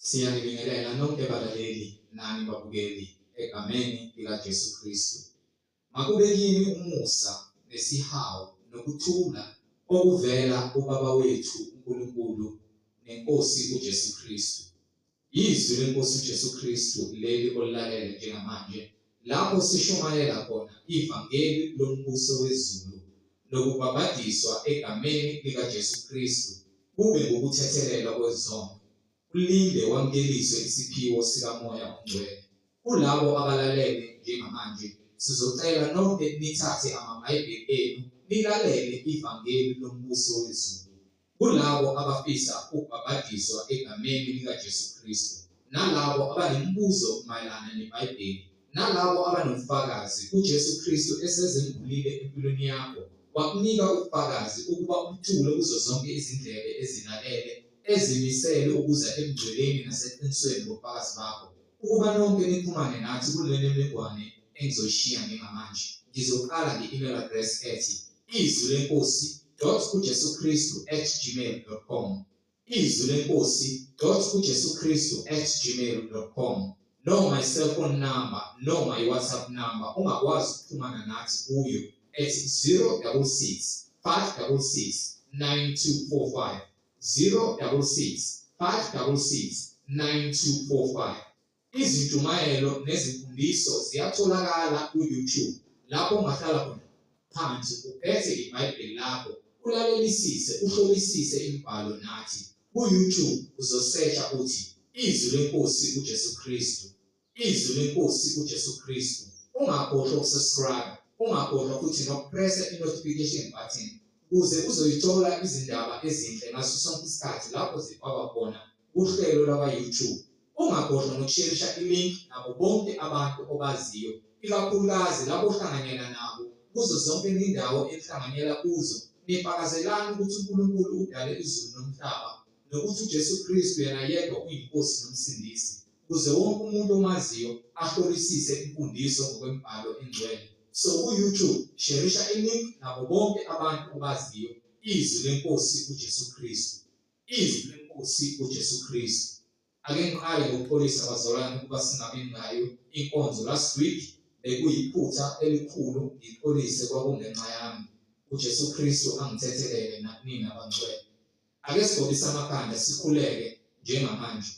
Siyanibingelela nonke balaleli nani babukeli egameni likaJesu Kristu. Makube kini umusa nesihawu nokuthula okuvela kuBaba wethu uNkulunkulu neNkosi uJesu Kristu. Yizwi leNkosi uJesu Kristu leli olilalele njengamanje lapho sishumayela khona ivangeli lombuso wezulu nokubhabhadiswa egameni likaJesu Kristu kube ngukuthethelelwa kwezono, ulinde wamukeliswe isiphiwo sikaMoya oNgcwele. Kulabo abalalele njengamanje, sizocela nonke nithathe amaBhayibheli enu nilalele ivangeli lombuso wezulu. kulabo abafisa ukubhabhadiswa egameni likaJesu Kristu, nalabo abanemibuzo mayelana neBhayibheli, nalabo abanobufakazi, uJesu Kristu esezembulile empilweni yakho, wakunika ubufakazi ukuba ubuthule kuzo zonke izindlebe ezilalele, ezimisele ukuza ebungcweleni naseqinisweni ngobufakazi bakho. Ukuba nonke nixhumane nathi kule mininingwane engizoyishiya njengamanje. Ngizoqala nge-email address ethi izwi lenkosi dot ujesu kristu at gmail dot com izwi lenkosi dot ujesu kristu at gmail dot com noma i-cellphone number noma i-whatsapp number ungakwazi ukuxhumana nathi kuyo at 066 566 9245 066 Izintshumayelo nezimfundiso ziyatholakala ku-YouTube lapho ungahlala khona phansi uphethe iBhayibheli lakho ulalelisise uhlolisise imibhalo nathi ku-YouTube uzosesha uthi Izwi leNkosi uJesu Kristu Izwi lenkosi uJesu Kristu. Ungakhohlwa ukusubscribe, ungakhohlwa futhi nokupressa i-notification button ukuze uzoyithola izindaba ezinhle ngaso sonke isikhathi lapho zifakwa khona kuhlelo lwakwa-YouTube. Ungakhohlwa nokusherisha i-link nabo bonke abantu obaziyo, ikakhulukazi labo ohlanganyela nabo kuzo zonke izindawo enihlanganyela kuzo nifakazelani ukuthi uNkulunkulu udale izulu nomhlaba nokuthi uJesu Kristu yena yedwa uyiNkosi noMsindisi. ukuze wonke umuntu omaziyo ahlolisise imfundiso ngokwemibhalo engcwele. So ku-YouTube sherisha ilink nabo bonke abantu obaziyo izwi lenkosi uJesu Kristu. Izwi lenkosi uJesu Kristu. Ake ngiqale ngokuxolisa bazalwane ukuba singabi nayo inkonzo last week bekuyiphutha elikhulu ngixolise kwakungenxa yami. uJesu Kristu angithethelele nakunina bangcwele. Ake sigobise amakhanda sikhuleke njengamanje.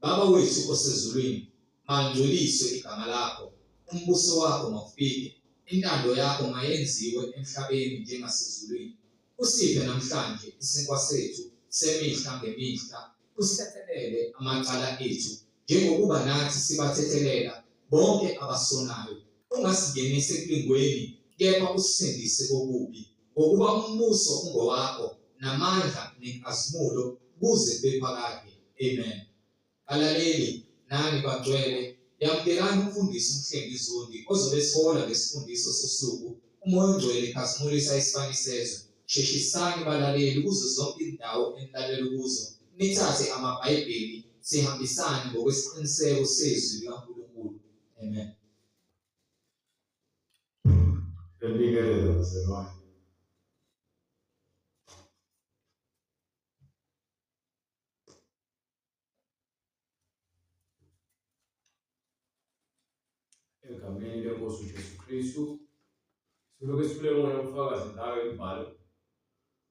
Baba wethu osezulwini, malingcweliswe igama lakho, umbuso wakho mawufike, intando yakho mayenziwe emhlabeni njengasezulwini. Usiphe namhlanje isinkwa sethu semihla ngemihla, usithethelele amacala ethu njengokuba nathi sibathethelela bonke abasonayo, ungasingenisi ekulingweni kepha usisindise kokubi. ngokuba umbuso ungowakho namandla nenkazimulo kuze kube phakade amen alaleli nani bangcwele yamukelani umfundisi umhlengi zondi ozobe sihola ngesifundiso sosuku umoya ongcwele khazimulisa isibani sezwe sheshisani balaleli kuzo zonke izindawo enilalela kuzo nithathe amabhayibheli sihambisane ngokwesiqiniseko sezwi likaNkulunkulu amen Elibingelela mzalwane. Egameni lenkosi uJesu Kristu siloke sifule ngona umfakazi nawe imbalo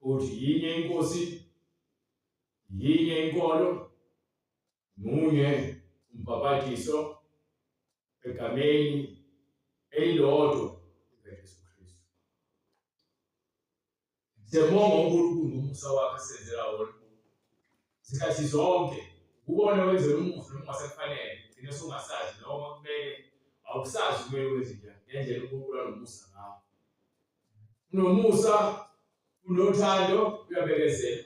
ukuthi yinye inkosi yinye inkolo munye umbhapathiso egameni elilodwa likaJesu Kristu. Siyabonga uNkulunkulu ngomusa wakhe asenzela wona zikhathi zonke kubona wenzela umusa noma ungasekufanele gcine sungasazi noma kumele awusazi kumele wenze njani ngendlela uNkulunkulu anomusa ngawo unomusa unothando uyabekezela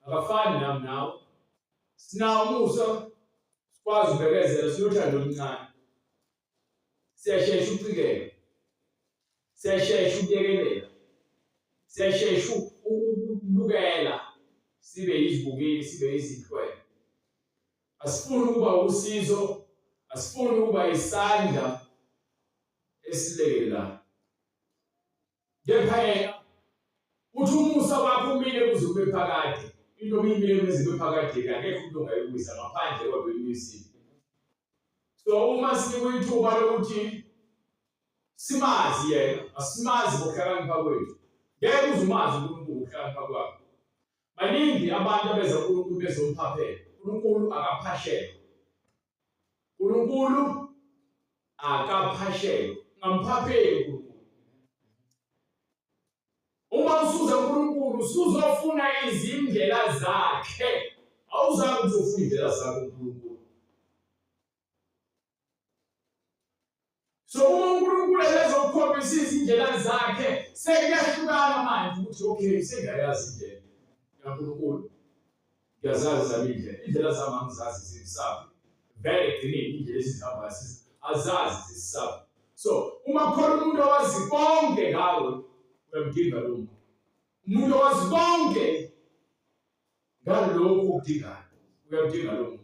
akafani nami nawe Sinawo umusa sikwazi ubekezela sinothando oluncane. Siyashesha ukucikela. Siyashesha ukuyekelela. Siyashesha ukubukela sibe yizibukeli sibe yizinhlwele. Asifuni ukuba usizo, asifuni ukuba isandla esilekelelayo. kepha yena uthi umusa wakho umile kuze kube phakade into obiyimile kuze kube phakade akekho umuntu ongayibuyisa ngaphandle kodwa imisile so uma sikwithuba lokuthi simazi yena asimazi ngokuhlakanipha kwethu ngeke uze umazi uNkulunkulu ngokuhlakanipha kwakho baningi abantu abeza uNkulunkulu bezomphaphela uNkulunkulu akaphashela uNkulunkulu akaphashelwe ngamphapheli uNkulunkulu uma usuza uNkulunkulu usuzofuna izindlela zakhe awuzange ukuthi ufuna indlela zakhe uNkulunkulu so uma uNkulunkulu ebezokukhombisa izindlela zakhe sekuyahlukana manje ukuthi okay sengayazi indlela kaNkulunkulu ngiyazazi zami indlela indlela zami angizazi zimsabi vele ekugcineni indlela esihamba azazi zisisabi so uma khona umuntu owazi konke ngawe uyamdinga lo muntu umuntu owazi konke ngalokhu okudingayo uyamdinga lo muntu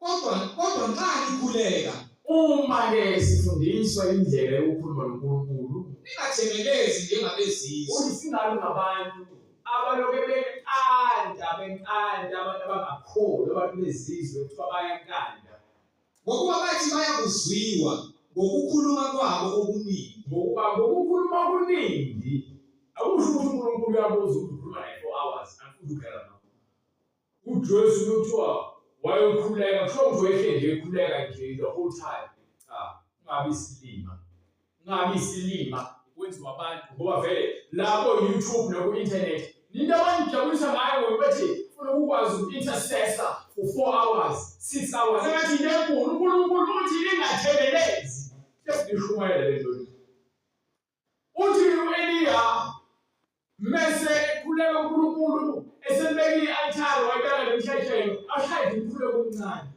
Kodwa kodwa nxa nikhuleka uma ke sifundiswa indlela yokukhuluma noNkulunkulu ningathemelezi njengabezizwe. Uthi singabi ngabantu abaloke benkanda benkanda abantu abangakholwa abantu bezizwe kuthiwa bayankanda ngokuba bathi bayakuzwiwa ngokukhuluma kwabo okuningi ngokuba ngokukhuluma okuningi akusho ukuthi uNkulunkulu uyabuza ukuthi ukhuluma naye for hours angifuni ukudlala UJoyce kuthiwa wayokhuleka, kuthiwa nje wehle nje ekhuleka nje the whole time. Cha, ungabi isilima. Ungabi isilima kwenziwa abantu ngoba vele lapho YouTube naku-internet ninto abanijabulisa ngayo ngoba bethi funa ukukwazi uku-intercessor for four hours six hours engathi into enkulu unkulunkulu uthi ningathekelezi sesishumayele le nto Uthi u-Eliya mese ekhuleka uNkulunkulu esembeke i-altare wayibeka nemhlehelo ashaye umkhuleko omncane.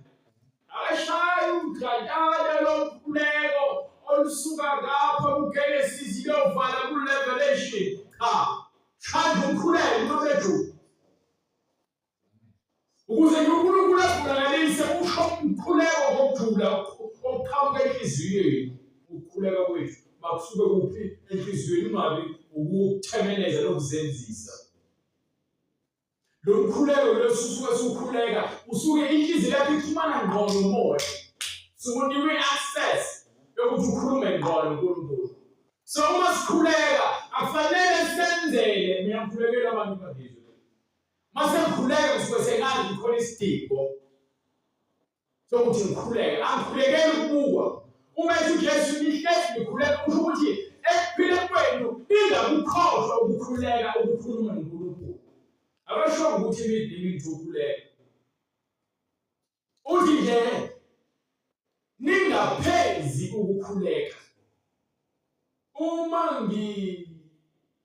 Akashaye umgadada lomkhuleko olusuka ngapha kuGenesis iyovala kuRevelation. Cha, shaya umkhuleko nqobethu. ukuze nje uNkulunkulu asilalelise usho umkhuleko ngokujula okuqhamuka enhliziyweni ukukhuleka kwethu makusuke kuphi enhliziyweni ungabi ukuthemeleza lokuzenzisa lo mkhuleko losusuke sukhuleka usuke inhliziyo yakho ixhumana ngqo nomoya sukunikwe access yokuthi ukhulume ngqo noNkulunkulu so uma sikhuleka akufanele senzele mina ngikhulekela abantu bakhe Mase ngikhuleke ngisuke sengazi ngikhona isidingo sokuthi ngikhuleke. Angikhulekeli ukubukwa. Uma ethi uJesu nihlezi nikhuleka kusho ukuthi ekuphileni kwenu ningakukhohlwa ukukhuleka ukukhuluma noNkulunkulu. Abasho ukuthi imidlalo ithi ukhuleke. uthi nje ningaphezi ukukhuleka uma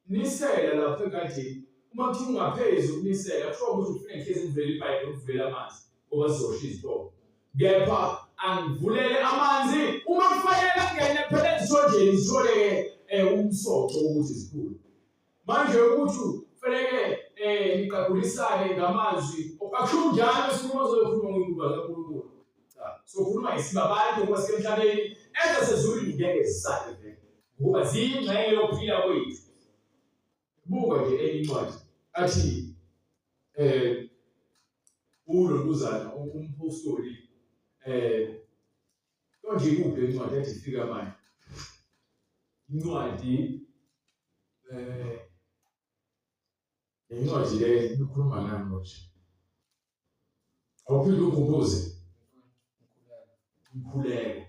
nginisela lapho egadini uma kuthiwa ungaphezi ukunisela kusho ukuthi ufuna ngihlezi ngivele ibhayibheli ukuvela amanzi ngoba zizosha izitolo kepha angivulele amanzi uma kufanele angene phela ezitholjeni zithole um umsoco wokuthi zikhule manje ukuthi kufanele eh niqabulisane ngamazwi akusho njalo sikhuluma ozokhuluma ngokuba kaNkulunkulu cha sokhuluma isibabantu ngoba sisemhlabeni enza sezulwini ngeke zisale vele ngoba ziyingxenye yokuphila kwethu buka nje enye incwadi athi eh ulo nkuzana umpostoli eh Konje ikuphi le ncwadi ethi fika manje? Incwadi eh incwadi le ikhuluma ngani konje? Awuphinde ukhumbuze umkhuleko.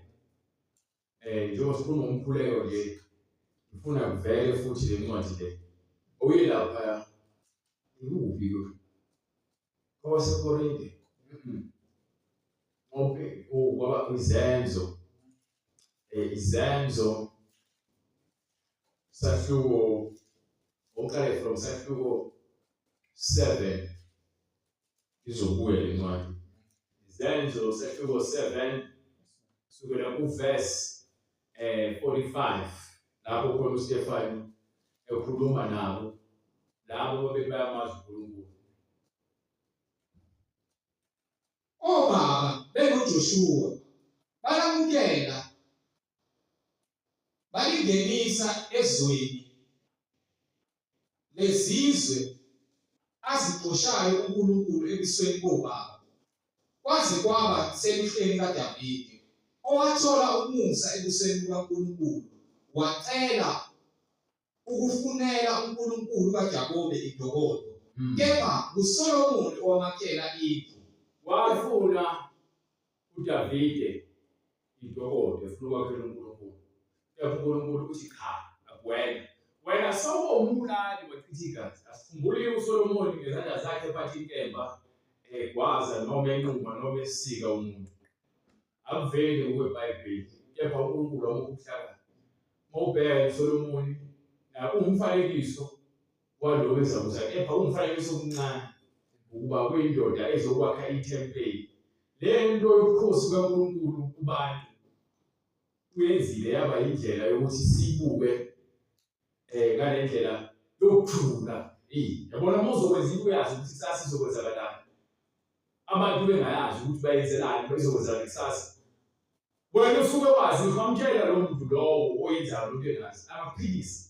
Eh njengoba sikhuluma umkhuleko nje ngifuna kuvele futhi le ncwadi le. Oye lapha ikuphi kwabasekorinte okay kwaba izenzo eh, izenzo sahluko oqale from sahluko 7 izobuya le ncwadi izenzo sahluko 7 sukela kuverse eh 45 lapho khona uStefani ekhuluma nabo labo babebayamazi uNkulunkulu obaba benguJoshua balamukela balingenisa ezweni lezizwe azigqoshayo uNkulunkulu ebusweni bobaba kwaze kwaba seluhleni kaDavide owathola umusa ebusweni bukaNkulunkulu wacela ukufunela uNkulunkulu kaJakobe idokodo hmm. kepha nguSolomoni owamakela indlu wafuna UDavide intokodo efuna ukwakhela uNkulunkulu. Kepha uNkulunkulu uthi cha, akuwena. Wena sowumbulali wachitha igazi. Asikhumbule uSolomoni ngezandla zakhe ephatha inkemba egwaza noma enquma noma esika umuntu. Akuveli ngokweBhayibheli, kepha uNkulunkulu wamukhuhlakala. Uma ubheka uSolomoni, umfanekiso kwalowo ezakuza, kepha umfanekiso omncane, ukuba kuyindoda ezokwakha ithempeli. Le nto yobukhosi bukaNkulunkulu kubantu kuyenzile yaba indlela yokuthi sibuke eh ngale ndlela yokuthula eh yabona uma uzokwenza into uyazi ukuthi kusasa izokwenzakalani abantu bengayazi ukuthi bayenzelani bezokwenzakala kusasa wena usuke wazi uhamtshela lo muntu lowo oyenzayo lento engazi amaphilisi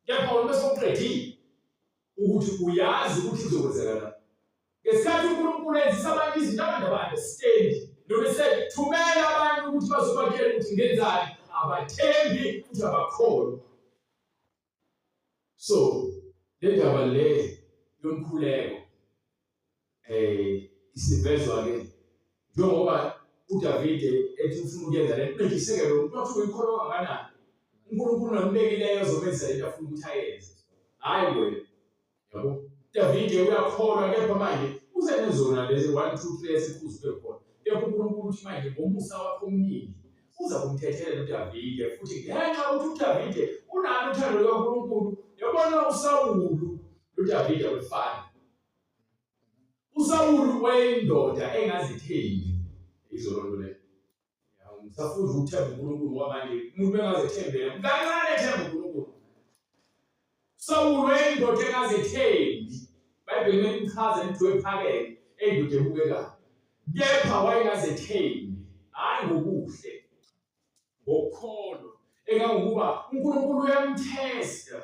Kepha uma sewuqedile ukuthi uyazi ukuthi kuzokwenzeka na. Ngesikhathi uNkulunkulu enzisa abantu izinto abantu abade stendi noma esethumela abantu ukuthi bazobatshela ukuthi ngenzani abathembi futhi abakholwa. So le ndaba le yomkhuleko eh isivezwa ke njengoba uDavide ethi ufuna ukuyenza le nto ngiseke lo muntu wathi uyikholwa kangakanani uNkulunkulu nambekileyo ozomenza into afuna ukuthi ayenze hayi wena yabo Davide uyakholwa kepha manje usenezona lezi 1 2 3 esikhuzwe khona kepha uNkulunkulu uthi manje ngomusa wakho omningi uza kumthethelela uDavide futhi ngenxa ukuthi uDavide unalo uthando lukaNkulunkulu yabona uSawulu uDavide wefana USawulu wayeyindoda engazithembi izolo nto leyo. Ngisafuza ukuthemba uNkulunkulu ngoba manje umuntu engazethembela kancane ethemba uNkulunkulu. Sawulu wayeyindoda engazethembi. Bhayibheli melichaza into ephakeme eyindoda ebukekayo. Kepha wayengazethembi hayi ngokuhle ngokukholwa engangokuba uNkulunkulu uyamthesta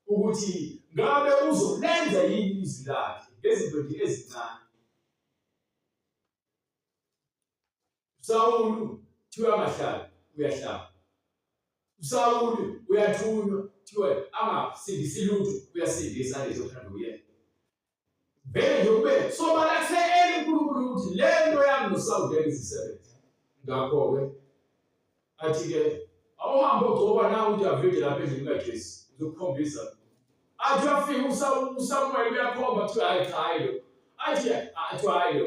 ukuthi ngabe uzolenza yini izwi lakhe ngezinto nje ezincane Sawulu thiwa amahlala uyahlaba Sawulu uyathunywa thiwa angasindisi lutho uyasindisa lezo thando yena vele nje kube sobala kusekele uNkulunkulu ukuthi le nto yami nosawudela izisebenza ngakho-ke athi-ke awuhambe ogcoba na udavide lapha endlini kajesi uzokukhombisa athi uyafika usamuweli uyakhomba kuthiwa hayi cha hayi lo athi athi hayi lo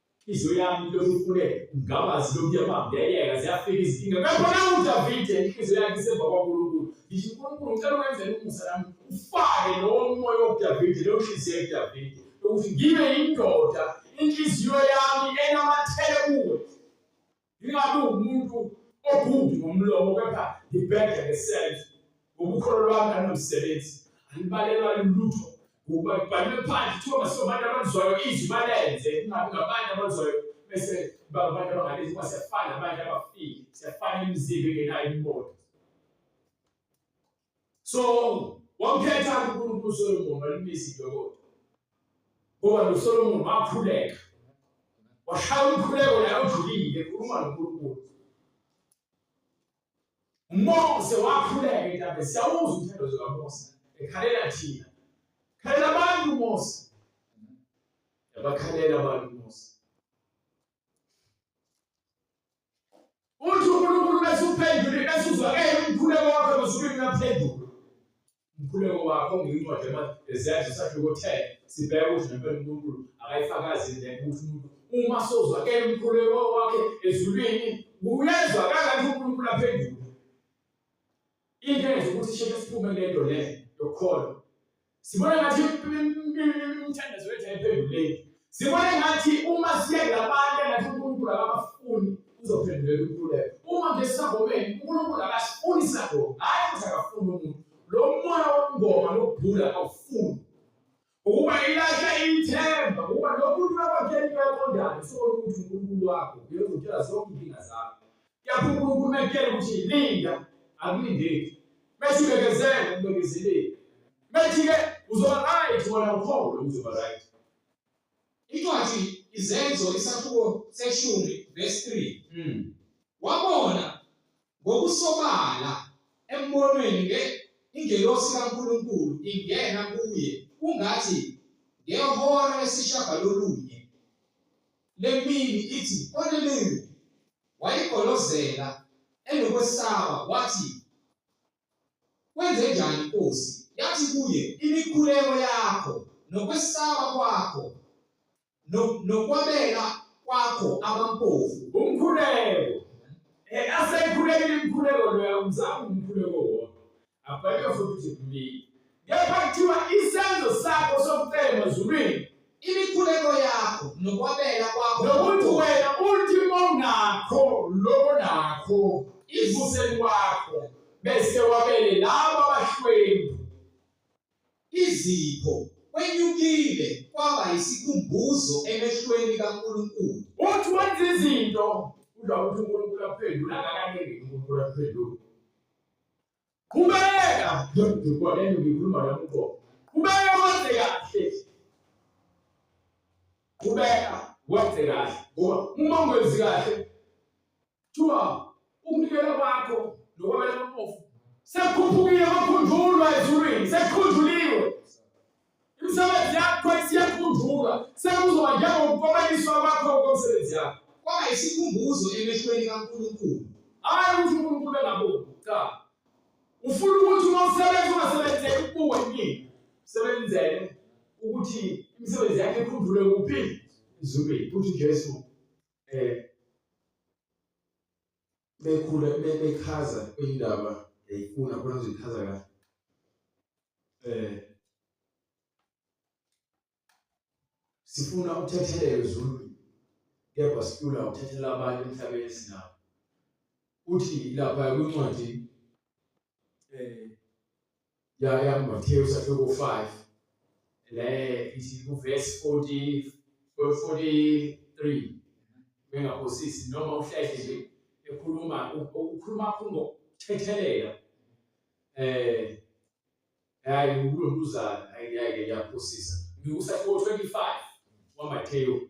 inhliziyo yami ilokhu ifune ngawazi lokhu yabambeleka ziyafika izinkinga kakhona udavide inhliziyo yakhe isemva kwankulunkulu ngisho unkulunkulu ngicela ukwenzela umusa nami ufake lowo moya wokudavide leyo nhliziyo yedavide ukuthi ngibe yindoda inhliziyo yami enamathele kuwe ngingabi umuntu ogubi ngomlomo kepha ngibhede ngesenzo ngobukholo lwami nanomsebenzi angibalelwa lutho ngokuba ngibhalwe phansi kuthiwa masobantu abakuzwayo izwi balenze kungabi ngabantu abakuzwayo bese babantu abangalezi kuba siyafana abantu abafile siyafana imizimba engenayo imimoto so wamkhetha uNkulunkulu uSolomon walimisa idokodo ngoba noSolomon wakhuleka washaya umkhuleko naye ujulile ekhuluma noNkulunkulu Mose wakhuleka intabe siyawuzwa umthandazo kaMose ekhalela thina khalela abantu Mose yabakhalela abantu Mose Uthi uNkulunkulu bese uphendule bese uzwa ke umkhuleko wakho basuke ngaphendula. Umkhuleko wakho ngiyincwadi eziyazi sakhe kothela sibheke ukuthi nempela uNkulunkulu akayifakazi le ukuthi umuntu uma sozwa ke umkhuleko wakhe ezulwini uyezwa kangathi uNkulunkulu aphendula. Into eyenza ukuthi sheke siphume kule nto le yokukholwa. Sibona ngathi imithandazo yethu ayiphenduleki. Sibona ngathi uma siye labantu engathi uNkulunkulu akabafuni uzophendulela uNkululeko. Uma nje sisagomeni uNkulunkulu akasifuni sagoma, hhayi ukuthi akafuni umuntu. Lo moya wokungoma nokubhula awufuni. Ukuba ilahle ithemba ukuba nomuntu wakwakhela into yaqondana usukona ukuthi uNkulunkulu wakho uyozotshela zonke inkinga zakho. Kuyapha uNkulunkulu mekutshela ukuthi linda akulindeki. Bese ubekezele ubekezelile. Methi-ke uzoba right wona ukholo uzoba right. Incwadi Izenzo isahluko seshumi verse 3. Mm. Wabona ngokusobala embonweni nge ingelosi kaNkulunkulu ingena kuye kungathi ngehora lesishagalolunye lemini ithi Korneliyu wayigolozela enokwesaba wathi Kwenze njani inkosi? Yathi kuye, imikhuleko yakho nokwesaba kwakho nokwabela kwakho abampofu umkhuleko eh, aseyikhulekile imikhuleko loya umzama umkhuleko wona abhalwe futhi kuthi kepha kuthiwa isenzo sakho sokucela emazulwini imikhuleko yakho nokwabela kwakho nokuthi wena ultima onakho lokho nakho ivuseni kwakho bese wabele labo abahlwempu izipho kwenyukile kwaba isikhumbuzo emehlweni kaNkulunkulu uthi wenza izinto udla ukuthi uNkulunkulu aphendula akakanenge uNkulunkulu aphendula Qhubeka ndoda lento ngikhuluma nami uqobo. Qhubeka wenze kahle. Qhubeka wenze kahle. Ngoba uma ungenzi kahle kuthiwa ukunikela kwakho nokwabela umpofu sekukhuphukile kwakhunjulwa ezulwini sekukhunjuliwe Imisebenzi yakho isiyakhunjulwa sekuzoba njengokukomeliswa kwakho komsebenzi yakho. Kwaba isikhumbuzo emehlweni kaNkulunkulu. Hayi ukuthi uNkulunkulu engaboni. Cha. Ufuna ukuthi uma usebenza ungasebenzeki ukubuka yini? Sebenzele ukuthi imisebenzi yakhe ikhunjulwe kuphi? Ezulwini. Futhi Jesu eh bekhula bechaza indaba yayifuna khona ngizoyichaza kahle eh sifuna ukuthethelelwa izulu kepha sifuna ukuthethela abantu emhlabeni sinabo uthi lapha kwincwadi eh ya ya Matthew chapter 5 le isi ku verse 40 43 benga kosisi noma uhlehli nje ekhuluma ukukhuluma khumbo thethelela eh hayi ukulonduzana ayike yaphosisa ngikusafo 25 wa Matthew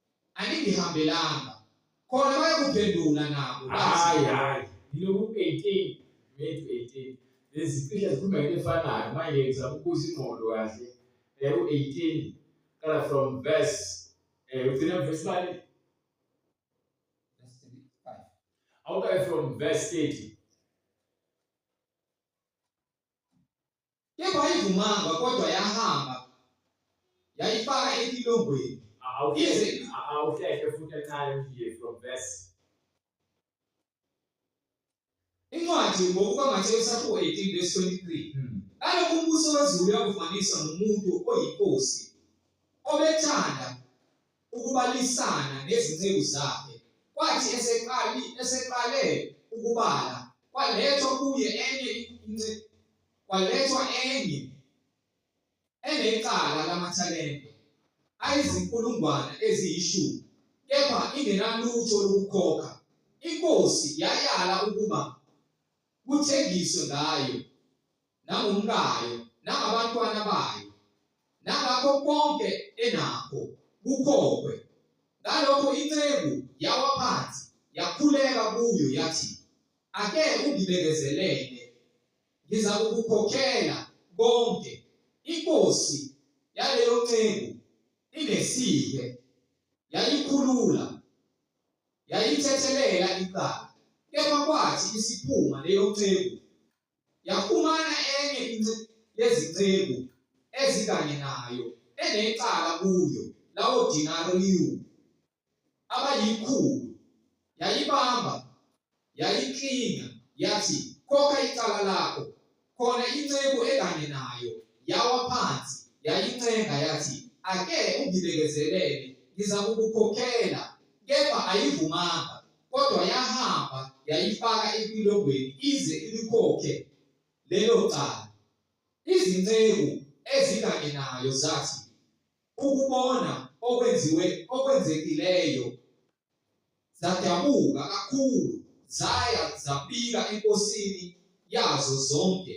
aningihambelanga khona bayokuphendula nabo hayi hayi yiloku 18 methi 18 lezi cishe zikhuluma into efanayo manje ngizama ukubuza ingqondo kahle eh, u 18 kala from verse eh ugcina verse mali awukaye from verse 30 Kepha ayivumanga kodwa yahamba yayifaka etilongweni. Awuhleke awuhleke futhi encane nje from verse. Incwadi ngokuba Mateyu chapter 18 verse 23. Hmm. Kaloku umbuso wezulu uyakufaniswa nomuntu oyinkosi obethanda ukubalisana nezinceku zakhe, kwathi eseqali eseqale ukubala kwalethwa kuye enye kwalethwa enye enecala lamathalente ayizinkulungwane eziyishumi kepha ingenalutho lokukhokha inkosi yayala ukuba kuthengiswe ngayo nangomkayo nangabantwana bayo nangakho konke enakho kukhokhwe ngalokho inceku yawa phansi yakhuleka kuyo yathi ake ungibekezelele ngiza kukukhokhela konke inkosi yaleyo nceku inesike yayikhulula yayithethelela icala kepha kwathi isiphuma leyo nceku Yafumana enye yezinceku ezikanye nayo enecala kuyo lawo dinariyu abayikhulu, yayibamba, yayiklinga, yathi, Khokha icala lakho. Khona inceku ekanye nayo yawa phansi, yayincenga yathi, Ake ungibekezelele, ngizakukukhokhela. Kepha ayivumanga. kodwa yahamba yayifaka epilongweni ize ilikhokhe lelo cala. Izinceku ezikanye nayo zathi ukubona okwenziwe okwenzekileyo zadabuka kakhulu zaya zabika enkosini yazo zonke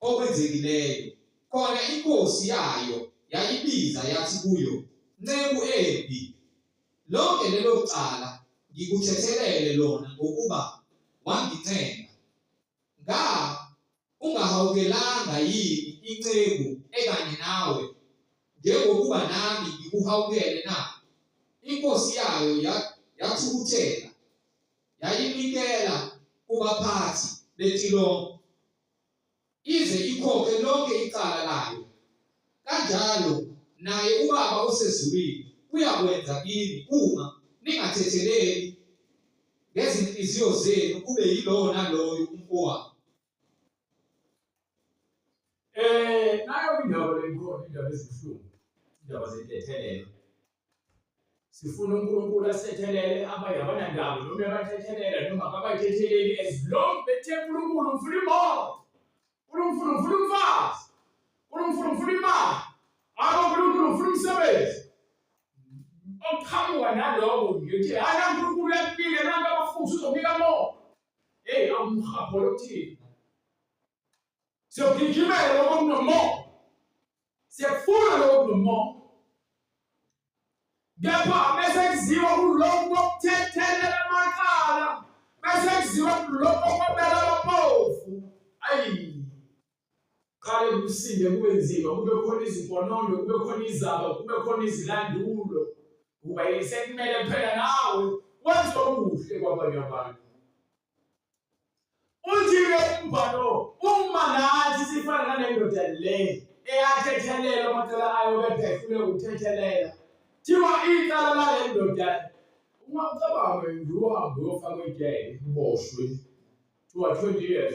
okwenzekileyo. Khona inkosi yayo yayibiza yathi kuyo, Nceku embi, lonke lelo cala ngikuthethelele lona ngokuba wangincenga. Nga ungahawukelanga yini inceku ekanye nawe njengokuba nami ngikuhawukele na? Inkosi yayo yathukuthela yayinikela kubaphathi betilongo ize ikhokhe lonke icala layo. Kanjalo naye uBaba osezulwini uyakwenza kini uma ningathetheleli ngezinhliziyo zenu kube yilowo naloyo umfowabo. Eh nayo indaba lenkolo indaba ezibuhlungu indaba zentethelelo sifuna uNkulunkulu asethelele abanye abanandaba noma abathethelela noma ababathetheleli as long bethe uNkulunkulu ngifuna imoto uNkulunkulu ngifuna umfazi uNkulunkulu ngifuna imali abo uNkulunkulu ngifuna umsebenzi okuqhamuka naloko ngithi hhayi uNkulunkulu uyaphila abantu abafuthi uzobika moto eyi awumhapho lokuthini siyogijimela ngoba kunomoya siyakufuna lokhu nomoya kepha bese kuziwa kulokhu kokuthethelela amacala bese kuziwa kulokhu kokubela abaphofu ayi qale kusinde kube nzima kube khona iziponondo kube khona izaba kube khona izilandulo kuba sekumele phela nawe wenze okuhle kwabanye abantu Uthi-ke umbhalo uma nathi sifana nalendoda le eyathethelela amacala ayo kepha efuna ukuthethelela thiwa icala lale ndoda uma ucabanga ngiwuhambe uyofaka ejele uboshwe thiwa 20 years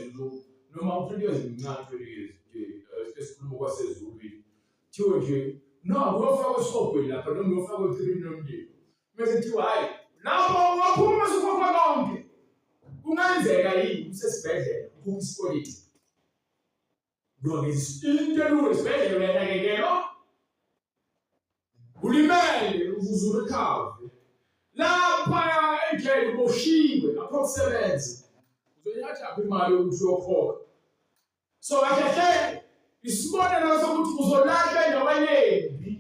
noma u-20 years mncane 20 years eh, esikhuluma kwasezulwini thiwe nje no uyofaka esihogweni lapha noma uyofaka ekhilini lomndeni Mese kuthiwa hayi lapho ungaphuma usukhokha konke. Kungenzeka yini usesibhedlela ukhokha isikweleti? Ngoba into elula esibhedlela uyanakekelwa. Ulimele uzuzula ikhavu. Lapha ejele uboshiwe lapho kusebenza. Uzoyatha imali yokuthi uyokhokha. so kahle hle isibonelo sokuthi uzolahla endaweni embi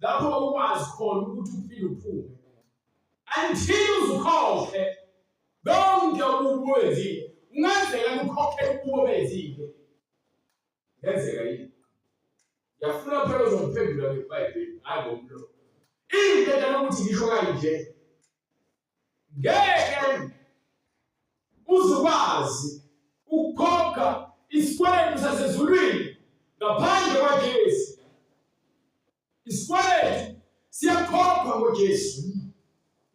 lapho ukwazi khona ukuthi uphile uphume until uzukhohle konke ububenzile kungenzeka kukhokhe ukuba benzile yenzeka yini yafuna phela uzongiphendula ngebhayibheli hayi ngomlo into etana ukuthi ngisho kanje ngeke uzukwazi ukukhokha isikweletu sasezulwini ngaphandle kwaJesu. Isikweletu siyakhokhwa ngoJesu.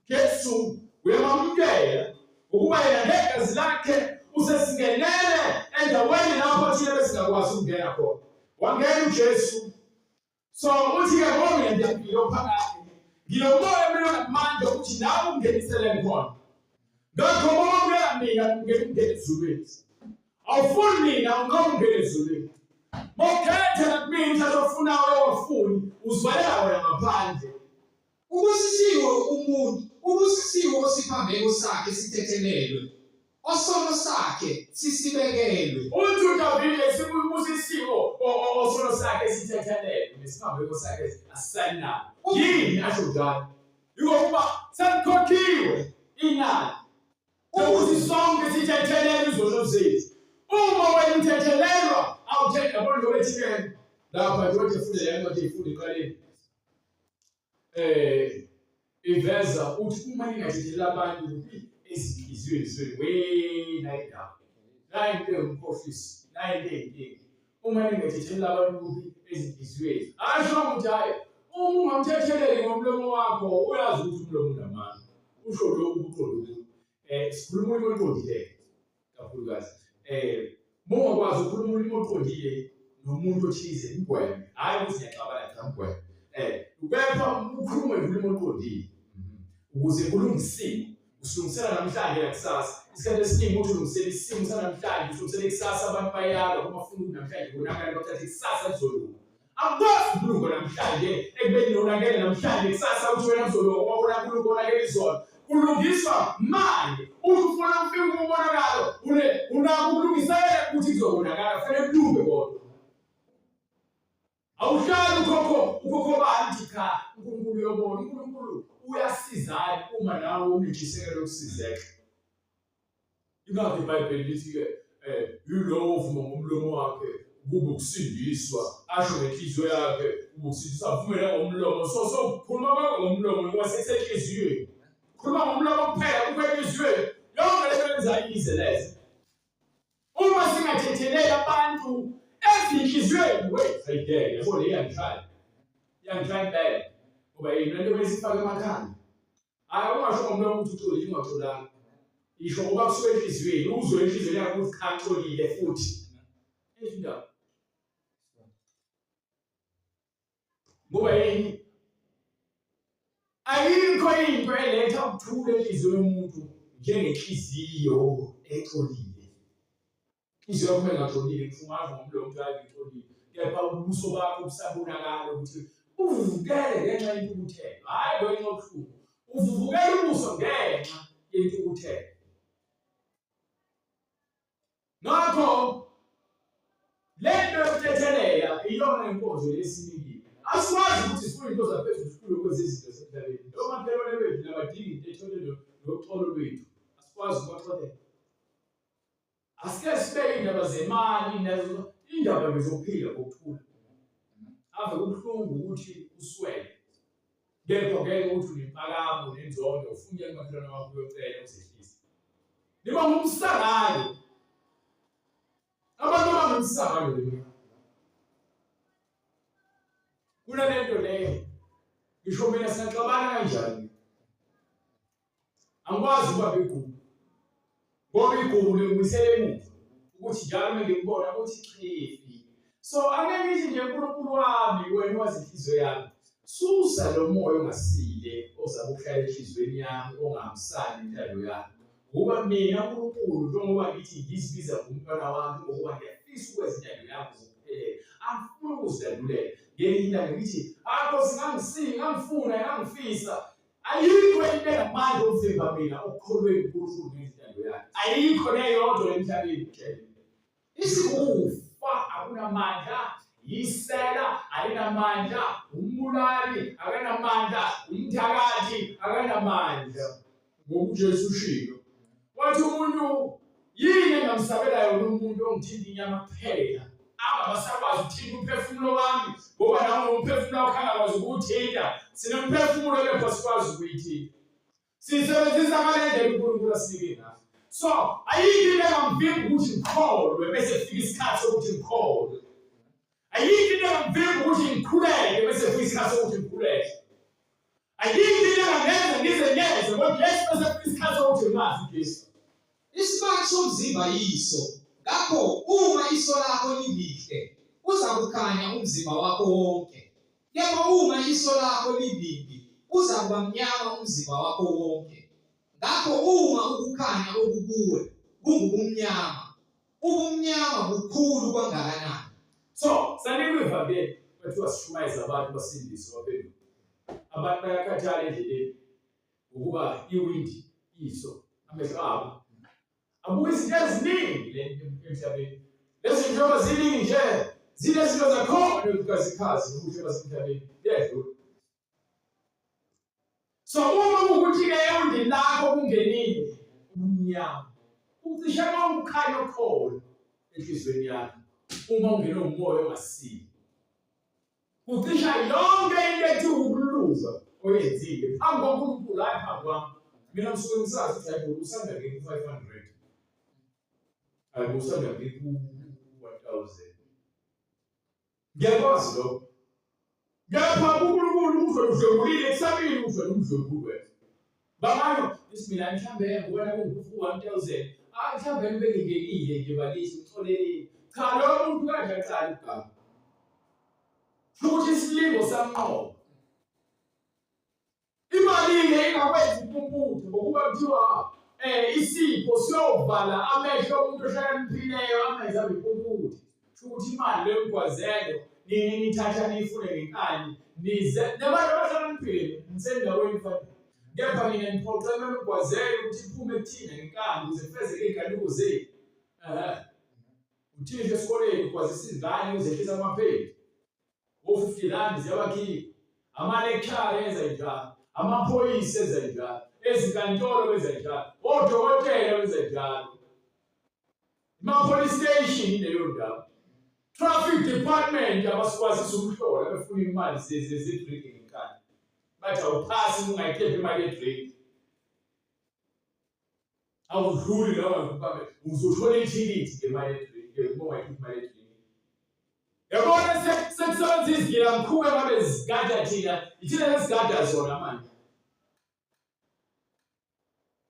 Jesu uyamamukela ukuba yena negazi lakhe usesingenele endaweni lapho thina besingakwazi ukungena khona. Wangena uJesu so uthi ke ngoba mina ngiyaphila ophakathi ngilomoya mina ngamandla ukuthi nawe ungenisele khona ngakho uma ubeka mina ungena ungena ezulwini awufuni mina ungoma ungena ezulwini mokhethe kumina uzofuna wena wafuni uzwalela wena ngaphandle Ubusisiwe umuntu, ubusisiwe osiphambeko sakhe sithethelelwe, osono sakhe sisibekelwe. Uthi uDavide sibusisiwe osono sakhe sithethelelwe, nesiphambeko sakhe asisanabo. Yini asho njalo? Yikokuba sekukhokhiwe inani ukuthi sonke sithethelele izono zethu. Uma wena uthethelelwa awuthethe yabona lokho ethikeni lapha njengoba efundela yena nje ifunda eqaleni eh iveza ukuthi uma ningathethela abantu ezinhliziyweni zenu we nayi ndawo nayi into engumkhohlisi nayi into eyinkinga uma ningathethela abantu ezinhliziyweni asho ukuthi hayi uma ungamthetheleli ngomlomo wakho uyazi ukuthi umlomo unamandla usho lokhu uqondo um sikhuluma umuntu oqondileyo kakhulukazi eh mongakwazi ukukhuluma ulimi oqondile nomuntu othize ngigweme hayi ukuthi ngiyaxabana cha ngigweme eh kepha ukhulume ulimi oqondile mhm. ukuze kulungisile usilungisela namhlanje nakusasa isikhathi esiningi uthi ulungisela isimo sanamhlanje usilungisela ikusasa abantu bayalwa uma funa ukuthi namhlanje konakala bathathe ikusasa lizolunga Akwazi ukulunga namhlanje ekubeni nonakele namhlanje kusasa uthi wena mzolo wabona kulunga onakele izolo kulungiswa manje uthi ufuna ukufika umonakalo une unako ukulungisela ukuthi kuzobonakala fanele kulunge kodwa awuhlali ukhokho ukhokho bani cha uNkulunkulu yobona uNkulunkulu uyasizayo uma nawe unentshisekelo yokusizeka Ingakho iBhayibheli lithi-ke um yilowo ovuma ngomlomo wakhe kube ukusindiswa asho ngenhliziyo yakhe kube ukusindiswa avumele ngomlomo so so khuluma kwakho ngomlomo kwasithe enhliziyweni khuluma ngomlomo kuphela kube enhliziyweni yonke lento yenzayo ize leze uma singathetheleli abantu ezinhliziyweni wethu ayideke yabo le yangihlala yangihlala impela ngoba yena lento besifaka emakhanda Hayi ungasho ngomlomo ukuthi uxolile ungaxolanga. Isho ngoba kusuke enhliziyweni, uzwe enhliziyweni yakho ukuthi cha uxolile futhi. Indaba. Ngoba yini? Ayikho into eletha ukuthula enhliziyweni yomuntu njengenhliziyo exolile. inhliziyo yakho engajolile ngifungaza ngomlomo njalo ngitholile kepha ubuso bakho busabonakala ukuthi uvukele ngenxa yentukuthelo hhayi ngenxa yobuhlungu uvuvukela ubuso ngenxa yentukuthelo ngakho le nto yokuthethelela iyona inkonzo yesinikile asikwazi ukuthi sifune into zaphezulu sikhulu kwezizinto zemhlabeni noma phela bethu nabadingi intethelelo noxolo lwethu asikwazi ukubaxolela Asike sibeke indaba zemali nezo indaba ngezokuphila kokuthula. Ave kubuhlungu ukuthi uswele. Kepha ngeke uthi unempakamo nenzondo ufune umakhelwane wakho uyocela uzehlise. Niba ngumsakayo. Abantu abangumsakayo leli. Kunalento leyo. Ngisho mina siyaxabana kanjani? angikwazi ukuba bigugu ngoba igugu lingibuyisela emuva ukuthi njalo uma ngikubona ukuthi chifi so angeke ngithi nje unkulunkulu wami wena wazi inhliziyo yami susa lo moya ongasile ozama ukuhlala enhliziyweni yami ongahambisani intando yami ngoba mina unkulunkulu njengoba ngithi ngizibiza ngomntwana wami ngokuba ngiyafisa ukwenza intando yami zokuphelela angifuni ukuzilandulela ngelinye ilanga ngithi akho singangisini ngangifuna ngangifisa Ayikho into engamandla okuvimba mina ukukholweni kuNkulunkulu ngentando yakhe. Ayikho neyodwa emhlabeni ngitshela. Isikufa akunamandla, yisela alinamandla, umbulali akanamandla, umthakathi akanamandla. Ngokujesu ushilo. Wathi umuntu yini engamsabela yona umuntu ongithinta inyama kuphela angabasakwazi ukuthinta umphefumulo wami ngoba nawo umphefumulo wakho angakwazi ukuwuthinta sinemphefumulo kepha sikwazi ukuyithinta sisebenzisa ngale ndlela unkulunkulu asinike ngayo so ayikho into engamvimba ukuthi ngikholwe bese kufika isikhathi sokuthi ngikholwe Ayikho into engangivimba ukuthi ngikhuleke bese kufika isikhathi sokuthi ngikhuleke. Ayikho into engangenza ngizenyeze ngoba Jesu bese kufika isikhathi sokuthi ngazi Jesu. Isibani somzimba yiso. Ngakho uma iso lakho lilihle, uza kukhanya umzimba wakho wonke. Kepha uma iso lakho libibi, uza kuba mnyama umzimba wakho wonke. Ngakho uma ukukhanya okukuwe kungubumnyama, Ubumnyama bukhulu kwangakanani? So, sanikweva ke kuthiwa sishumayeza abantu basindiswe baphenduka. Abantu bayakhathala endleleni ngokuba iwindi iso amehlo abo. Abuka izinto eziningi le emhlabeni. Lezi zinhlobo ziningi nje zinezinto zakhona ezikazikhazi nokuhle basemhlabeni. Kuyadlula. so uma ukuthi ke ewundini lakho kungenile umnyama ucishe uma ukhanya okhona enhliziyweni yakho uma ungena umoya ongasile ucisha yonke into ethi ukuluza oyenzile phambi kwaNkulunkulu hayi phambi kwami mina ngisuke ngisazi ukuthi hayi usanda ke ku 500 hayi usanda ke ku 1000 Ngiyakwazi lokho. Ngapha kuNkulunkulu uzodlwengulile kusabili uzodlwengulu wethu. Bangalo isimila mhlambe ngibona kungufu 1000. Ah mhlambe nibe ngingenile nje balisi ngitholeleni. Cha lo muntu kanje aqala ukuganga. Futhi isilingo samqobo. Imalini engakwenza impumputhe ngokuba kuthiwa eh isipho siyovala amehlo omuntu ohlakaniphilileyo amenze abe impumputhe. Kusho ukuthi imali lengigwazelo nini nithatha niyifune ngenkani nize nabantu abahlakaniphile nisendaweni fanele. Kepha nina niphoqe kumele ugwazele ukuthi iphume kuthina ngenkani ukuze kufezeke iy'galuko zenu. Ehhe. Uthisha esikoleni ugwazisa izingane uzehlisa amapheli. o-50 rand ziyabakhipha amalekshara enza njalo amaphoyisa enza njalo ezinkantolo benza njalo odokotela benza njalo ima-police station ileyo ndawo traffic department abasikwazisa ukuhlola befuna imali zedrinki ngenkani bathi awuphasi ungayikhephi imali yedrinki awudluli lawa ngikubambe uzothola ithikithi ngemali edrinki ukubonga imali edrinki yabona sekusebenzisa izigila mkhuba ngabe zigada thina ithina lesigada zona manje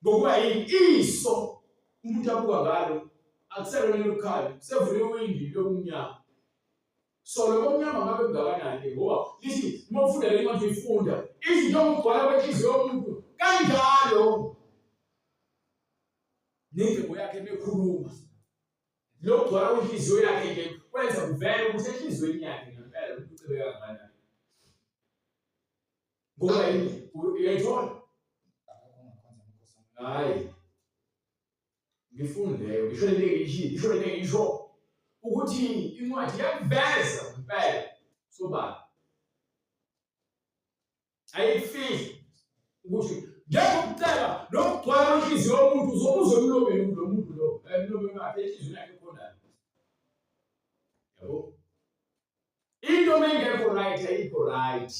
ngokuba yini iso umuntu abuka ngalo akuselona lokukhanya kusevule iwindi lokunyama So lo mnyama ngabe ungakanani ke ngoba lithi uma ufunda le ncwadi uyifunda izinto okugcwala kwenhliziyo yomuntu kanjalo nendlebo yakhe mekhuluma lokugcwala kwenhliziyo yakhe ke kwenza kuvele ukuthi enhliziyweni yakhe ngempela umuntu ucebeka kangakanani ngoba yini uyayithola hayi ngifundeyo ngisho into engiyishilo ngisho into engiyisho ukuthi incwadi yakuveza impela sobani ayifihli ukuthi njengokuceba nokugcwala inhliziyo yomuntu uzobuza emlomeni lo muntu lo emlomeni wakhe enhliziyweni yakhe khonani yabo into mengekho right ayikho right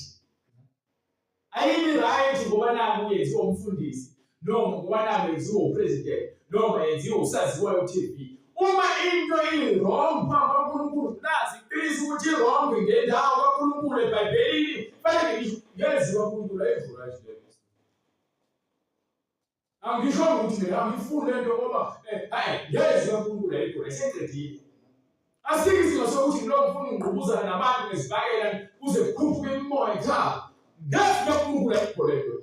ayibi right ngoba naku yenziwa umfundisi noma ngoba naku yenziwa upresident noma yenziwa usaziwayo uTV uma into iwrong phambi kwaNkulunkulu nazi iqiniso ukuthi iwrong ngendawo kaNkulunkulu eBhayibhelini fanele ngisho yenziwa uNkulunkulu ayivula nje angisho ukuthi mina angifuni lento ngoba eh, hayi yezwe uNkulunkulu ayigona eseqedile asike isimo sokuthi lo mfuna ungqubuzana nabantu nezibakela kuze kukhuphuke imimoya ekhaya ngathi lo uNkulunkulu ayigona lento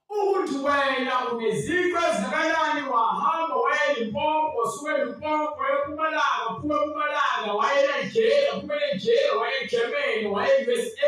ukuthi wena uneziqu ezingakanani wahamba wayelimpopo suke limpopo epumalanga phuma epumalanga wayela ijele phumele ijele wayegermany waye-usa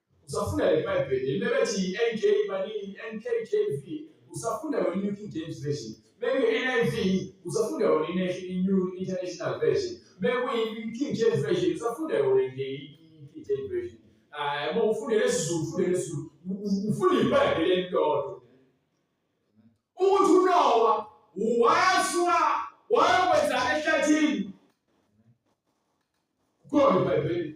Usafunda le Bible, lebethi NK malini NKJV, usafunda yona New King James Version. Maybe NIV, usafunda yona i New International Version. Maybe King James Version, usafunda yona nje King James Version. Ah, uma ufunde lesiZulu, ufunde lesiZulu, ufunde iBhayibheli elilodwa. Ukuthi uNowa wayasuka wayokwenza ehlathini. Kukhona iBhayibheli.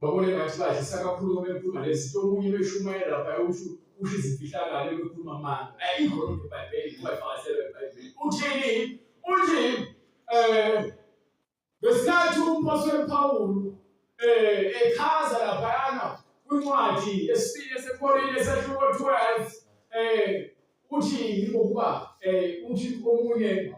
babone ngathi badlisa kakhulu ngoba bekhuluma lezinto omunye beshumayela lapha usho usho izifihlakalo bekhuluma amanga ayikho loo nto ebhayibheli ungayifakazela ebhayibheli uthini uthi um ngesikhathi umphostoli pawulu um echaza laphayana kwincwadi esibili esekorinte esahluko 12 um uthi yingokuba um uthi omunye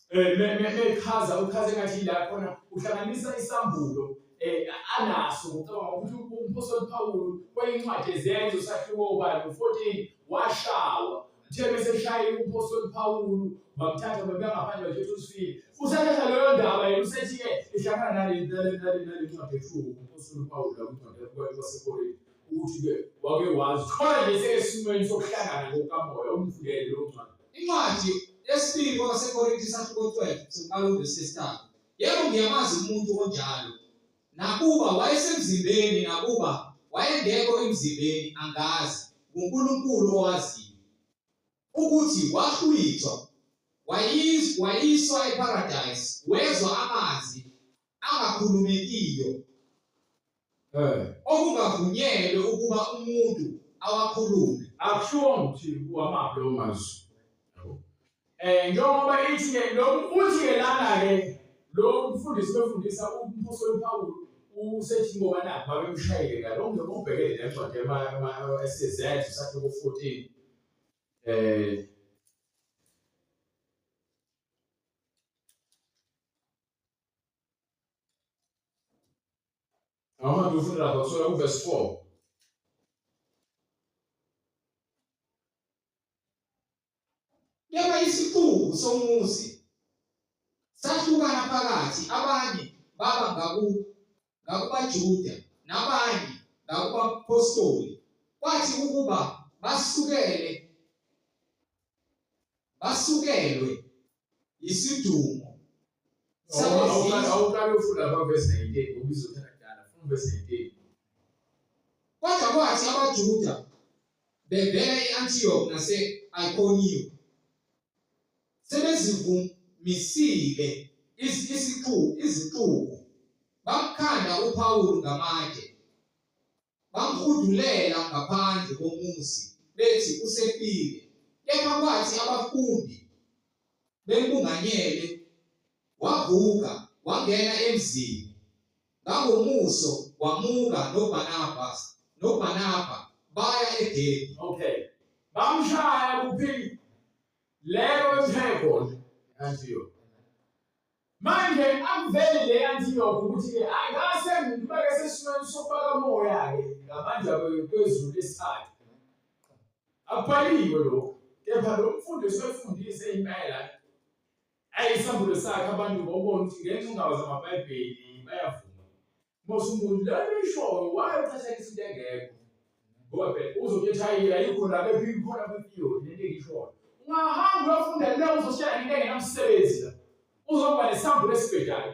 eh, echaza uchaze ngathi la khona uhlanganisa isambulo eh, anaso ngicabanga ukuthi umphostoli Pawulu kweyincwadi ezenzo sahluko ubani u-14 washawa uthe bese shaye umphostoli Pawulu bamthatha babengaphandle bathetha usifile usathatha leyo ndaba yena usethi-ke ihlangana nalencwadi ethuka umphostoli Pawulu lakuncwadi kwasekorinte ukuthi-ke wake wazi khona nje sekesimweni sokuhlangana ngokamoya umvulele lowo ncwadi Incwadi yesibili kwabaseKorinte isahluko 12 siqala uvesi yesithathu. Yebo ngiyamazi umuntu onjalo. Nakuba wayesemzimbeni nakuba wayengekho emzimbeni angazi nguNkulunkulu owaziyo ukuthi wahlwithwa wayiswa eparadise wezwa amanzi angakhulumekiyo eh. okungavunyelwe ukuba umuntu awakhulume akushiwo ukuthi uwamaphi lawo mazwi um njengoba ithi-ke lokhu uthi-ke lana-ke lo mfundisi befundisa umbuso wepawulu usethi ngoba nakho babemshayele ngalo mntu obhekele nencwadi ema-ss sakhe ku-fourteen um Ama dursun rafa sonra bu vesfo. Yaba isiqubu somuzi sahlukana phakathi abanye baba ngaku ngakubaJuda nabanye ngakubapostoli kwathi ukuba basukele basukelwe isidumo awuqala ufunda kwavesi 19 ngoba izothatha kudala funa uvesi 19 kodwa kwathi abajuda bevela e-antiyokhi nase-ikoniyo sebezivumisile isixuku izixuku bamkhanda uPawulu ngamatshe bamhudulela ngaphandle komuzi bethi usefile kepha kwathi abafundi bembunganyele wavuka wangena emzini Ngangomuso wamuka noBarnabas noBarnaba baya eDebhe. Okay. Bamshaya kuphi? Leyo eThebona. Antiyona. Manje akuveli le Antiyona ukuthi ke angase ngibeke sesimweni sokubaka moya ke ngamandla kwezulu lesithathu. Akubhaliwe lokho. Kepha lo mfundi usefundise impela Ayi isambulo sakhe abantu ngobona ukuthi ngenxa indawo zamaBhayibheli bayavuma. Mose umuntu la ishoyo waye uqhathanisa into engekho. Ngoba phela uzokhetha yini ayikho la bephila khona kwiyo lento engishoyo. Ungahamba uyofunda le uzoshaya into engenamsebenzi la. Uzoba nesambulo esibhedayo.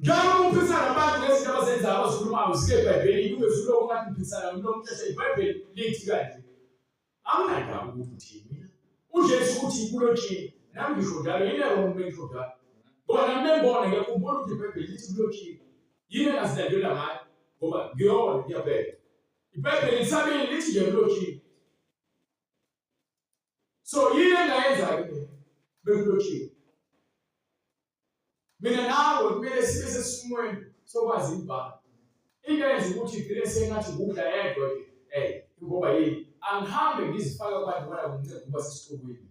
Njalo ukuphikisana nabantu ngezinto abazenzayo abazikhulumayo zike eBhayibhelini kube fuloku ngathi ngiphikisana nomuntu omthethe iBhayibheli lithi kanje. Anginandaba ukuthi uthini mina. UJesu uthi kulotshile nami ngisho njalo yini yabo uma ngisho njalo. Ngoba nami bengibona ngiyakhumbula ukuthi iBhayibheli lithi kulotshile. Yini engazilandela ngayo ngoba ngiyona ngiyabheka. IBhayibheli lisabili lithi nje kulotshile. so yini engayenza-ke bekulotshiwe mina nawe kumele sibe sesimweni sokwazi ibhala into yenza ukuthi igcine sengathi ngudla yedwa ke ey ngoba yini angihambe ngizifake abantu bona kunceku kuba sesiqubwini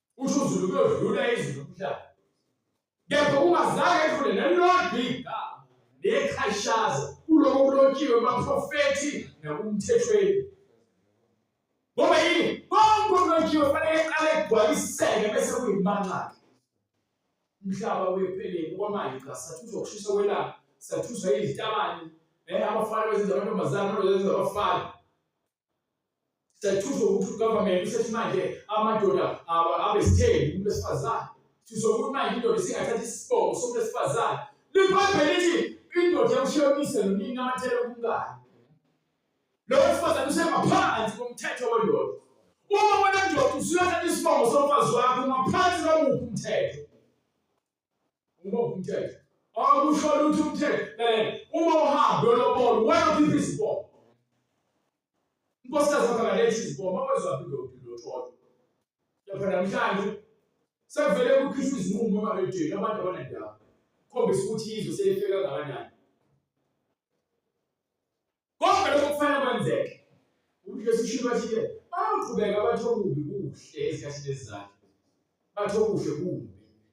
usho uzulu kuyodlula izwi lomhlaba kepha ungazange edlule nelilodwa igama nekhashaza kuloko kulotshiwe baprofethi nakumthethweni ngoba yini konke okulotshiwe fanele eqale egcwaliseke bese kuyimanxake umhlaba wepheleni kwamanje cha sathuswa ukushisa kwelanga sathuswa izitabane eh abafana bezenza amantombazane amantombazane abafana siyathuthwa ukuthi ugovernment usethi manje amadoda abe sitheni umuntu wesifazane sithuthwa ukuthi manje indoda isingathatha isibongo somuntu wesifazane liphephe lithi indoda yamshiya uyise nonini namathele kumngane lowo wesifazane usengaphansi komthetho wendoda uma wena ndoda usuyathatha isibongo somfazi wakho ungaphansi kwamuphi umthetho Ngoba umthetho. Awukusho ukuthi umthetho. Eh, uma uhambe uyolobona, wena ukhipha izibongo. Inkosikazi yakho akalethi izibongo, mawezwa phinde uphinde uthole. Lapha namhlanje sekuvele kukhishwa izinqumo emarejeni abantu abanendaba. Khombisa ukuthi izwe selifika kangakanani. Konke lokho kufanele kwenzeke. UJesu usho bathi-ke baqhubeka bathi okubi kuhle ezikhathini ezizayo. Bathi okuhle kumbi.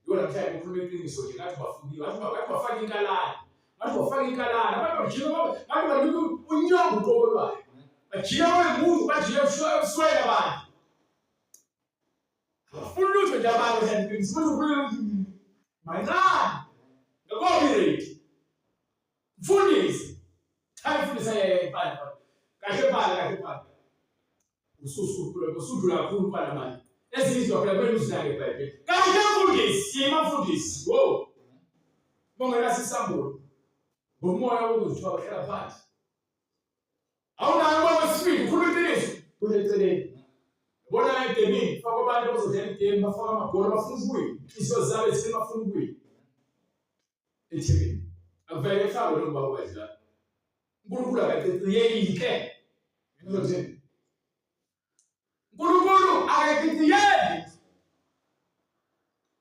Yona mhlawumbe kukhuluma iqiniso nje ngathi bafundile. Ngathi bafaka inkalane. Ngathi bafaka inkalane. Abantu bajika ngathi banika unyongo uqobo lwayo. Bajika wemuntu bajika ebuswele abantu. Abafuni lutho nje abantu kanti iqiniso. Umuntu ukhuluma mancane. Ngakho-ke Mfundisi, cha mfundisi ayeye phala phala. Kahle phala kahle phala. Ususuphula kusudlula kakhulu phala manje. Esizwa phela kwenu sinake iBhayibheli. Kahle mfundisi, yima mfundisi. Wo. Bongela sisambulo. Ngomoya wokuzithiwa bahlala phansi. Awunayo uma wesibili ukhuluma iqiniso. Kuleceleni. Bona edemini faka abantu abazodlala idemi bafaka amagoli bafuna ukuwina. Inhliziyo zabo ezifuna bafuna ukuwina. eThekwini. Akufanele efakwe lo baba wedla. uNkulunkulu akaqiqiyelike. Ngizothini? uNkulunkulu akaqiqiyeli.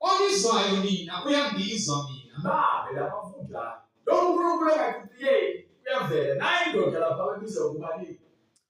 Ongizwayo nina uyangizwa mina. Babe lapha funda. Lo uNkulunkulu akaqiqiyeli uyavela. Nayi indoda lapha ababiza ukuba ni.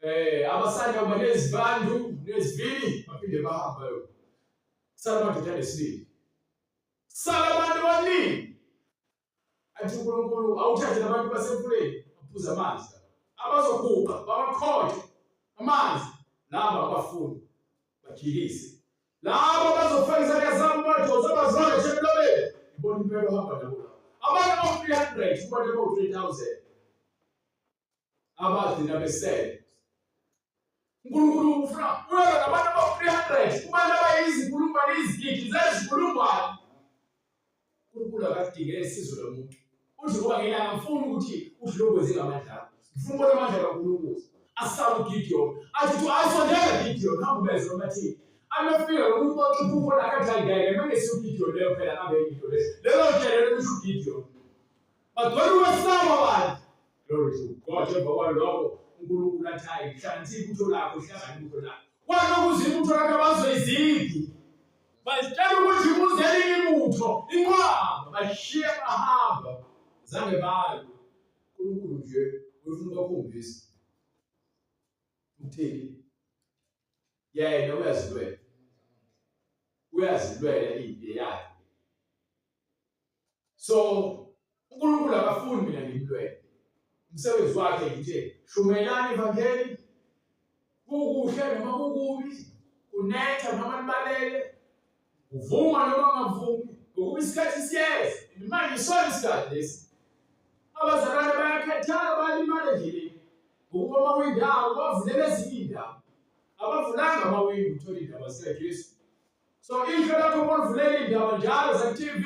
eh abasanda kuba nezibandu nezivini baphinde bahamba yo sala madoda nesibili sala abantu abaningi athi uNkulunkulu awuthathe nabantu basemfuleni aphuza amanzi abazoguqa babakhonje amanzi laba abafuni bajikise laba bazofaka izandla zabo badonsa bazale nje emlobeni ibona impela ohamba nabo abantu abawu-300 kubantu abawu-3000 abagcina besele uNkulunkulu ufuna uyeza nabantu aba-300 kubantu abayizinkulungwane izigidi zezinkulungwane uNkulunkulu akadinge isizo lomuntu uthi ngoba ngena ngifuna ukuthi udlokwenze ngamandla ngifuna ubona amandla kaNkulunkulu asabe uGideon athi to ayisondela Gideon hamba ubeze omathini amefika lomuntu oxupha ubona akadlalikaye ngemane siuGideon leyo phela abe Gideon lelo nje lelo kusho uGideon bagcwele ukwesaba abantu glory to god njengoba kwaloko unkulunkulu athi hayi hlanganisa ibutho lakho hlangana ibutho lakho kwanokuze ibutho lakho abazoyiziphi bazitshela ukuthi kuze elinye ibutho inqwaba bashiye bahamba zange bayo unkulunkulu nje uyofuna ubakhombisa utheni yena uyazilwela uyazilwela impi yakhe so uNkulunkulu akafuni mina ngimlwele umsebenzi wakhe nje shumelani ivangeli kukuhle noma kukubi kunetha noma libalele uvuma noma ungavumi ngokuba isikhathi siyeza manje isona isikhathi lesi abazalwane bayakhathala bayalimala endleleni ngokuba amawindi abo bavulele ezinye iindawo abavulanga amawindi uthole iindaba zikajesu So ihlo lakho molivulela indaba njalo ze TV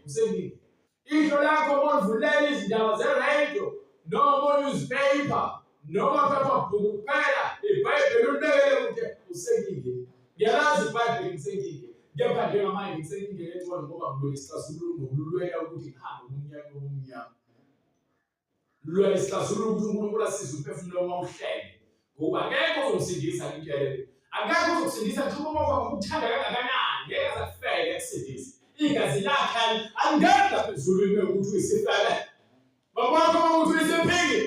msengini. Ihlo lakho molivulela izindaba ze radio noma newspaper noma phepha bhuku kuphela iBhayibheli ulibekele kude usengini. Ngiyalazi iBhayibheli msengini. Kepha njengamanje ngisengingele ecwala ngoba ngibona isixazululo ngokululwela ukuthi ngihambe umnyaka omnyama. Lula isixazululo ukuthi uNkulunkulu asize umphefumulo uma uhlele. Ngoba akekho ozomsindisa ngikele. Akekho ozokusindisa ngisho uma kwakho ukuthanda kangakanani ngeke azakufele akusindise. Igazi lakhe alingeni lapha ezulwini ukuthi uyisifebe. Bakwakho uma ukuthi uyisephili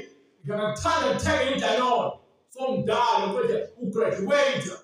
ngiyakakuthanda kuthenge idanone somdala kodwa ugraduate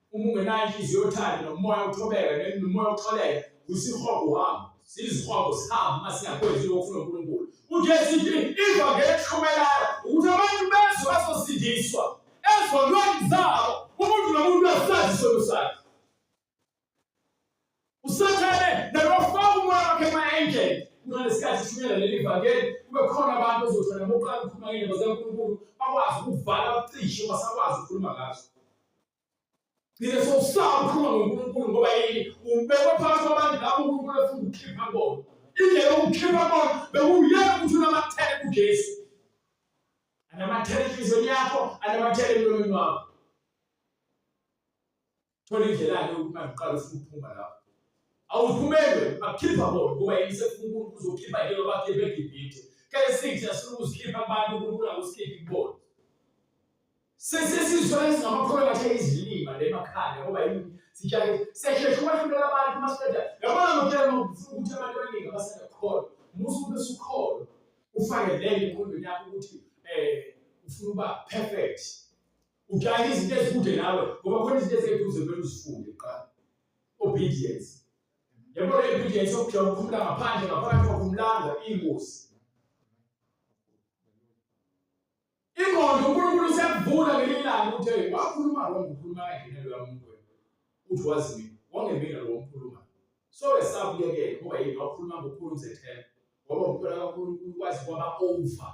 Uma ungenayo inhliziyo yothando nomoya uthobeka nomoya uxoleka kusihogo wami sizihogo sihambe uma singakwenzi lokhu ofuna uNkulunkulu uJesu ithi ivangeli elihlumelayo ukuthi abantu bezwe bazosindiswa ezonweni zabo umuntu nomuntu asazi isono sakhe Usathane nakafaka umoya wakhe ema-angel kunalesikhathi sishunyela leli vangeli kube khona abantu ozothana bokuqala ukukhuluma ngey'ndaba zikaNkulunkulu bakwazi ukuvala bacishe basakwazi ukukhuluma ngazo ngine sowusaba ukukhuluma ngoNkulunkulu ngoba yini ubekwe phakathi kwabantu labo uNkulunkulu efuna ukukhipha bona indlela yokukhipha bona bekuyena ukuthi unamathele kuJesu anamathele enhliziyweni yakho anamathele emlomeni wakho thola indlela-ke ukuthi manje uqala ufuna ukuphuma lapho awuphumele akukhipha bona kuba yini sefuna unkulunkulu uzokhipha yini abakhipha egibhithe kale sithi asifuna ukuzikhipha abantu unkulunkulu akusikhiphi kubona sesesizwa ezingamakholwa kahle izilima le makhanda ngoba yini sijake sesheshe ukwahlulela abantu uma siqeda yabona ngokutshela ukuthi abantu abaningi abasengakholwa musa ube sukholwa ufake lento enkondweni yakho ukuthi um ufuna uba perfect Ujahe izinto ezikude nawe ngoba khona izinto eziseduze kumele uzifunde kuqala. Obedience. Yabo le obedience yokujaha ukuphumula ngaphandle ngaphakathi kwakhumlanga ingozi. Ingqondo uNkulunkulu usevula ngelinye ilanga uthe wakhuluma wrong ukhuluma kanjena lo muntu wena. Uthi wazi mina wangemina lo mkhuluma. So esabuyekela ngoba yini wakhuluma ngokukhuluma zethemba. Ngoba uMntwana kaNkulunkulu wazi kwaba over.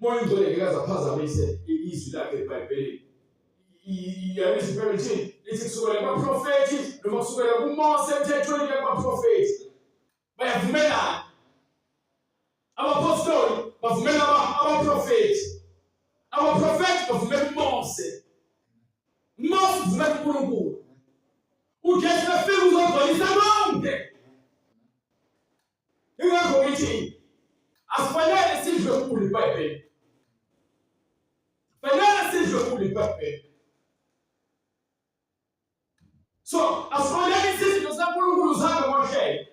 Moya ingcwele ngeke azaphazamise izwi lakhe eBhayibhelini. Iyalisho iBhayibheli lithi lithi kusukela kubaprofethi noma kusukela kuMose emthethweni kuya kubaprofethi. Bayavumelana. Abapostoli bavumela abaprofethi. Abaprofethi bavumela uMose. Mose uvumela uNkulunkulu. UJesu efika uzogcwalisa konke. Ingakho ngithi asifanele sidle ukugula iBhayibheli. Fanele sidle ukugula iBhayibheli. So, asifanele isidlo saNkulunkulu sabe ngohlelo.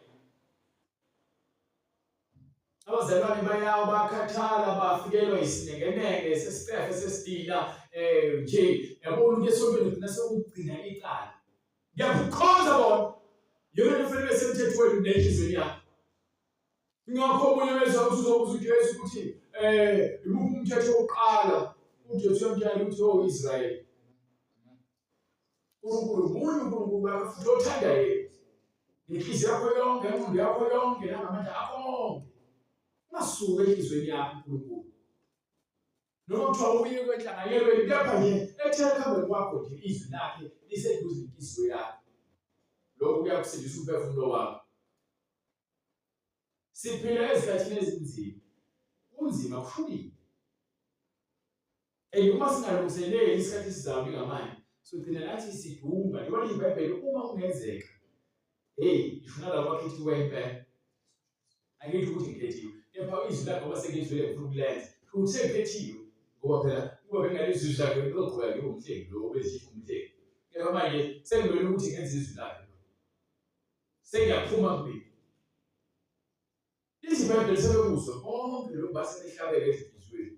abazalwane bayawo bakhathala bafikelwa isinekeneke sesicefe sesidila um nje yabona ukuthi esontweni kugcina sekugcina icala ngiyakukhonza bona yona kufanele besemthethweni nenhliziyo yakho ngakho omunye weza ukuthi uzobuza uJesu ukuthi eh imuphi umthetho wokuqala uJesu yamtshela ukuthi o oh, Israyeli uNkulunkulu munye uNkulunkulu wakho futhi othanda yena nenhliziyo yakho yonke ingqondo yakho yonke nangamandla akho onke ungasuki enhliziyweni yakho uNkulunkulu noma kuthiwa uye kwenhlanganyelweni kepha nje ethe ekuhambeni kwakho nje izwi lakhe liseduze nenhliziyo yakho lokhu kuyakusindisa umphefumulo wakho siphila ezikhathini ezinzima kunzima kuhlukile and uma singalungiseleli isikhathi esizayo njengamanje sogcina nathi sidumba libona ibhayibheli uma kungenzeka heyi ishona labo bakhethiwe impela angithi ukuthi ngikhethiwe kepha izwi lakhe ngoba sengizwile ngifuna ukulenza ukuthi sengikhethiwe ngoba phela uma bengalezwi izwi lakhe bezoqhubeka ngibe umhlengi lo obezithifa umhlengi kepha manje sengibele ukuthi ngenza izwi lakhe sengiyaphuma kubili izibhedlela sebekuzwe bonke lokhu basebehlabeke ezinhliziyweni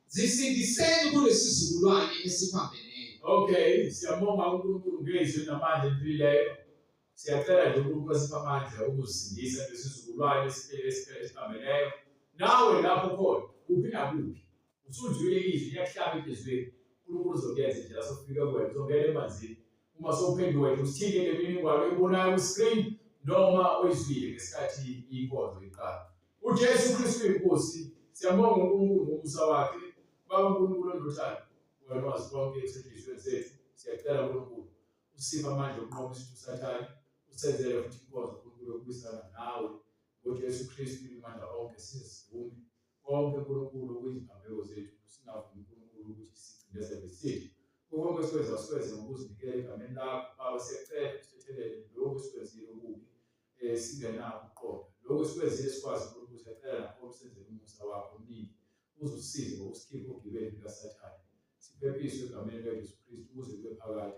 Zisindiseni kulesizukulwane esiphambeneyo. Okay, siyabonga uNkulunkulu ngezwi namandla empilileyo. Siyacela nje uNkulunkulu asiphe amandla okuzindisa lesizukulwane esiphele esiphele esiphambeneyo. Nawe lapho khona kuphi nakuphi usuzwile izwi liyakuhlaba enhliziyweni. uNkulunkulu uzokuyenza indlela sokufika kuwena uzongena emanzini uma sowuphenduka nje usithinte ngemininingwane oyibonayo ku-screen noma oyizwile ngesikhathi inkonzo iqala UJesu Kristu inkosi siyabonga uNkulunkulu ngomusa wakhe baba uNkulunkulu ondothando wena wazi konke esetshenzisweni zethu siyacela uNkulunkulu usiphe amandla okunqoba isithu sathane usenzele futhi inkonzo uNkulunkulu yokubisana nawe ngoJesu Kristu imandla onke sizivume konke uNkulunkulu okuyizibambeko zethu singavumi uNkulunkulu ukuthi sicindezele sithu konke siwenza siwenze ngokuzinikela egameni lakho baba siyacela usithethelele lokhu esikwenzile okubi eh, singenako ukuqonda lokho sikwenzile sikwazi uNkulunkulu siyacela lapho umsenzele umusa wakho omningi uzusize ngokusikhipha ogibeni likasathane siphephiswe egameni likajesu kristu ukuze kube phakade